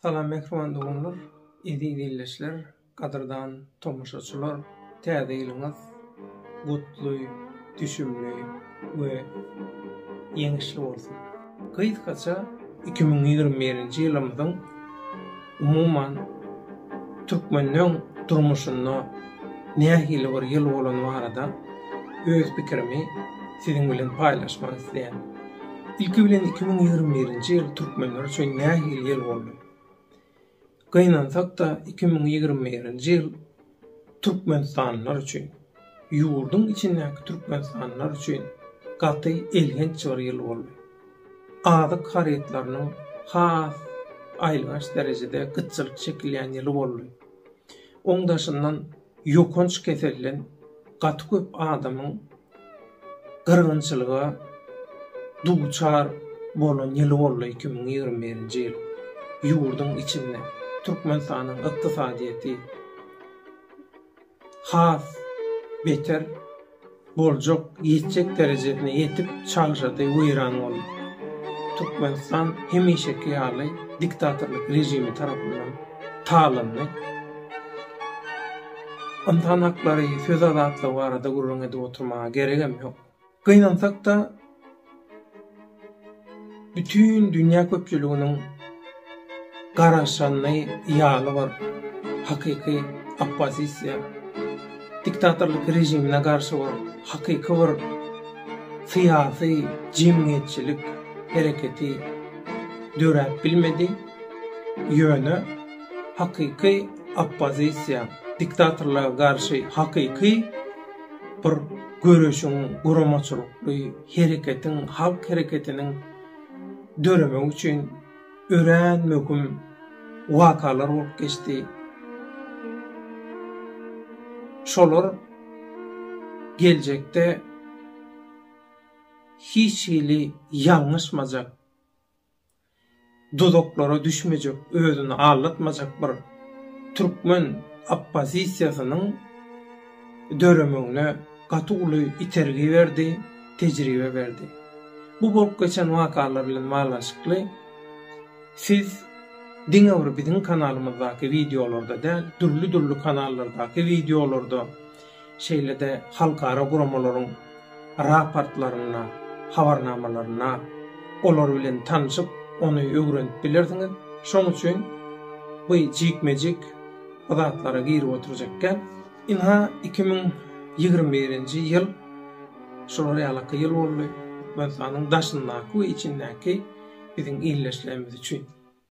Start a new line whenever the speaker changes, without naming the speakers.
Salam mähriban doganlar, eziz ildeşler, gadyrdan tomaşaçylar! Täze ýylyňyz gutly, düşümli we ýeňişli bolsun! Gysgaça iki müň ýigrimi birinji ýylymyzyň umuman türkmenleň durmuşynda nähili bir ýyl bolany barada öz pikirimi siziň bilen paýlaşmak isleýän. Ilki bilen iki müň ýigrimi birinji ýyl türkmenler üçin nähili ýyl boldy? Gynansak-da, iki müň ýigrimi birinji ýyl türkmenistanlylar üçin, ýurduň içindäki türkmenistanlylar üçin gaty elhenç bir ýyl boldy. Azyk harytlarynyň has aýylganç derejede gytçylyk çekilýän ýyly boldy. Oň daşyndan ýokanç keselden gaty köp adamyň gyrgynçylyga duçar bolan ýyly boldy iki müň ýigrimi birinji ýyl. Ýurduň içinde Türkmenistanyň ykdysadyýeti has beter boljak ýetjek derejesine ýetip çalşady weýran boldy. Türkmenistan hemişeki ýaly diktatorlyk režimi tarapyndan talandy. Ynsan haklary, söz azatlygy barada gürrüň edip oturmaga geregem ýok. Gynansak-da, bütin dünýä köpçüliginiň garaşany ýaly bir hakyky oppozisiýa, diktatorlyk režimine garşy bir hakyky bir syýasy, jemgyýetçilik hereketi döräp bilmedi. Ýöne. Hakyky oppozisiýa, diktatorlara garşy hakyky bir göreşiň, guramaçylykly hereketiň, halk hereketiniň döremegi üçin örän möhüm wakalar bolup geçdi. Şolar geljekde hiç hili ýalňyşmajak duzaklara düşmejek, özüni aldatmajak bir türkmen oppozisiýasynyň döremegine gaty uly itergi berdi, tejribe berdi. Bu bolup geçen wakalar bilen baglanyşykly siz diňe bir biziň kanalymyzdaky wideolarda däl, dürli-dürli kanallardaky wideolarda şeýle-de halkara guramalaryň raportlarynda, habarnamalarynda olar bilen tanşyp, ony öwrenip bilersiňiz. Şonuň üçin bu jikme-jik bu zatlara girip oturjak däl. Ynha, iki müň ýigrimi birinji ýyl şular ýalyky ýyl boldy Türkmenistanyň daşyndaky we içindäki biziň ildeşlerimiz üçin.